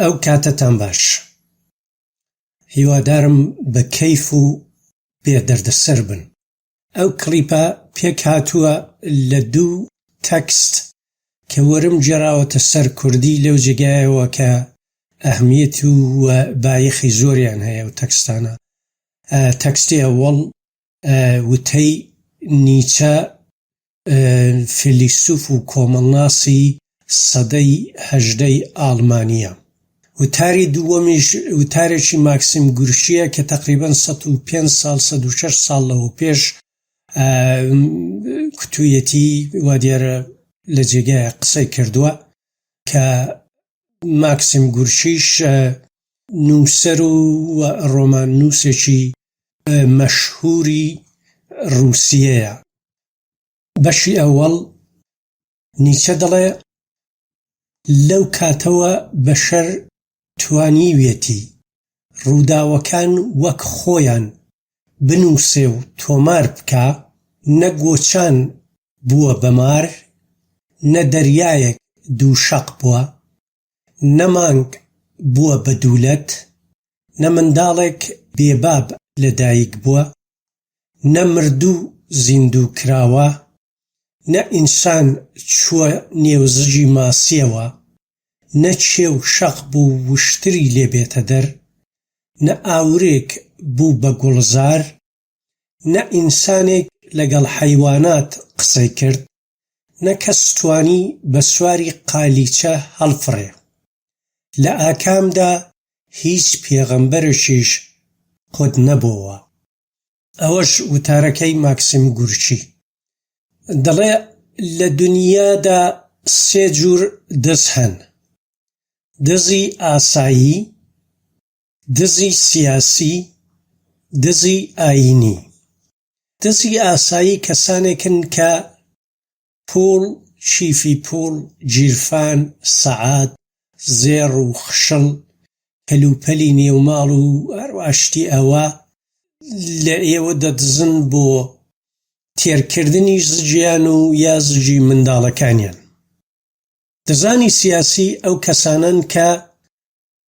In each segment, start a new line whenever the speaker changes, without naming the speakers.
ئەو کاتەتان باش هیوادارم بە کەیف و بێ دەردەسەر بن. ئەو کڵیپە پێک هاتووە لە دوو تەکست کە وەرم گێڕاوەتە سەر کوردی لەو جێگایەوە کە ئەهمیەت و بایەخی زۆریان هەیە ئەو تەکستانە تەکستی ئەوەڵ وتەی نیچە فیلیسوف و کۆمەڵناسی سەدەی هەژدەی ئاڵمانییە. وتاری دووەمیش وتارێکی ماکسیم گورکییە کە تەقریبەن سەد و پێنج ساڵ سەد و شەش ساڵ لەوە پێش کوتوویەتی وا دیارە لە جێگایە قسەی کردووە کە ماکسیم گورکیش نووسەر و ڕۆماننووسێکی مەشهوری ڕووسیەیە بەشی ئەوەڵ نیچە دەڵێ لەو کاتەوە بەشەر توانیویەتی ڕووداوەکان وەک خۆیان بنووسێ و تۆمار بکا، نە گۆچان بووە بە مار، نە دەریایەک دوو شەق بووە، نە مانگ بووە بە دوولەت، نە منداڵێک بێباب لە دایک بووە، نە مردوو زیندوو کراوە، نە ئینسان چووە نێو زگی ماسییەوە، نە کێ و شەق بوو وشتری لێ بێتە دەر، نە ئاورێک بوو بە گوڵزار، نە ئینسانێک لەگەڵ حەیوانات قسەی کرد، نە کەس توانی بە سواری قالیچە هەڵفڕێ. لە ئاکامدا هیچ پێغەمبەرێکیش قوت نەبۆوە. ئەوەش وتارەکەی ماکسیم گورکی. دەڵێ لە دنیادا سێ جوور دز هەن، دزی ئاسایی، دزی سیاسی، دزی ئایینی. دزی ئاسایی کەسانێکن کە پووڵ، چیفی پووڵ، گیرفان، سەعات، زێڕ و خشڵ، کەلوپەلی نێو ماڵ و هەروا شتی ئەوە لە ئێوە دەدزن بۆ تێرکردنی زگیان و یا زگی منداڵەکانیان. دزانی سیاسی ئەو کەسانەن کە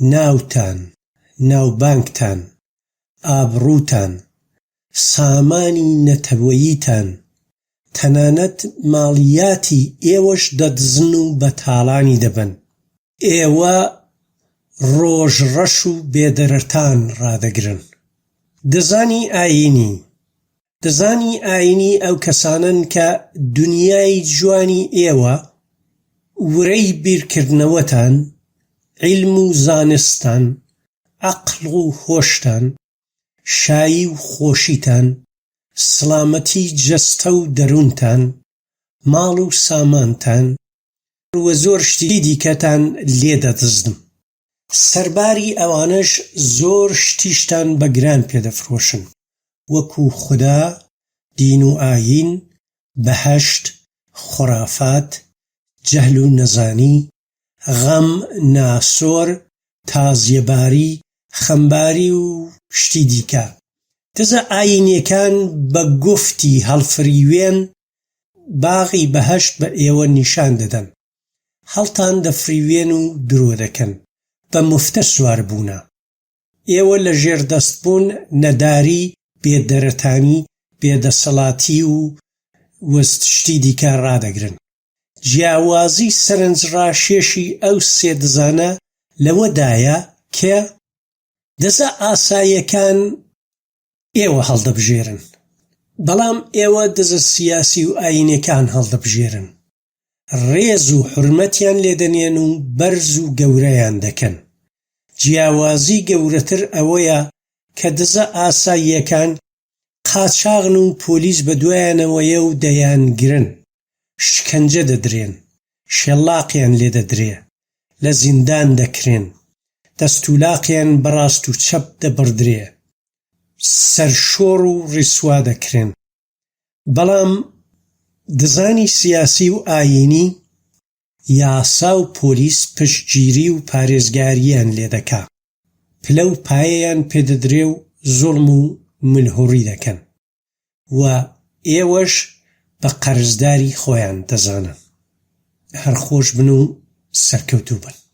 ناوتان، ناوبانگتان، ئابڕووتان، سامانی نەتەوەییتان، تەنانەت ماڵیاتی ئێوەش دەدزن و بە تاڵانی دەبەن. ئێوە ڕۆژ ڕەش و بێدەرەتان ڕادەگرن. دزانی ئایینی، دزانی ئاینی ئەو کەسانەن کە دونیای جوانی ئێوە ورەی بیرکردنەوەتان، عیلم و زانستتان، عەقڵ و هۆشتان، شایی و خۆشیتان، سڵامەتی جەستە و دەروونتان، ماڵ و سامانتان و زۆر شتی دیکەتان لێ دەدزن. سەرباری ئەوانەش زۆر شتیشتان بە گران پێ دەفرۆشن وەکو خودا، دین و ئایین، بەهەشت، خوڕافات، جەهل و نەزانی، غەم، ناسۆر، تازیەباری، خەمباری و شتی دیکە. دزە ئایینیەکان بە گفتی هەڵفریوێن باغی بەهەشت بە ئێوە نیشان دەدەن. هەڵتان دەفریوێن و درۆ دەکەن، بە مفتە سوار بوونە. ئێوە لە ژێر دەست بوون، نەداری، بێ دەرەتانی، بێ دەسەڵاتی و وست شتی دیکە ڕادەگرن. جیاوازی سەرنج ڕاشێشی ئەو سێ دزانە لەوە دایە کە دزە ئاساییەکان ئێوە هەڵدەبژێرن، بەڵام ئێوە دزە سیاسی و ئایینێکان هەڵدەبژێرن. ڕێز و حورمەتیان لێ دەنێن و بەرز و گەورەیان دەکەن. جیاوازی گەورەتر ئەوەیە کە دزە ئاساییەکان قاچاغن و پۆلیس بە دوایانەوەیە و دەیانگرن، شکەنجە دەدرێن، شێلاقیان لێ دەدرێ، لە زیندان دەکرێن، دەستولاقیان بە ڕاست و چەپ دەبڕدرێ، سەرشۆڕ و ڕیسوا دەکرێن. بەڵام دزانی سیاسی و ئایینی یاسا و پۆلیس پشتگیری و پارێزگارییان لێ دەکا، پلە و پایەیان پێ دەدرێ و زوڵم و ملهوڕی دەکەن و ئێوەش بە قەرزداری خۆیان دەزانن. هەر خۆش بن و سەرکەوتوو بن.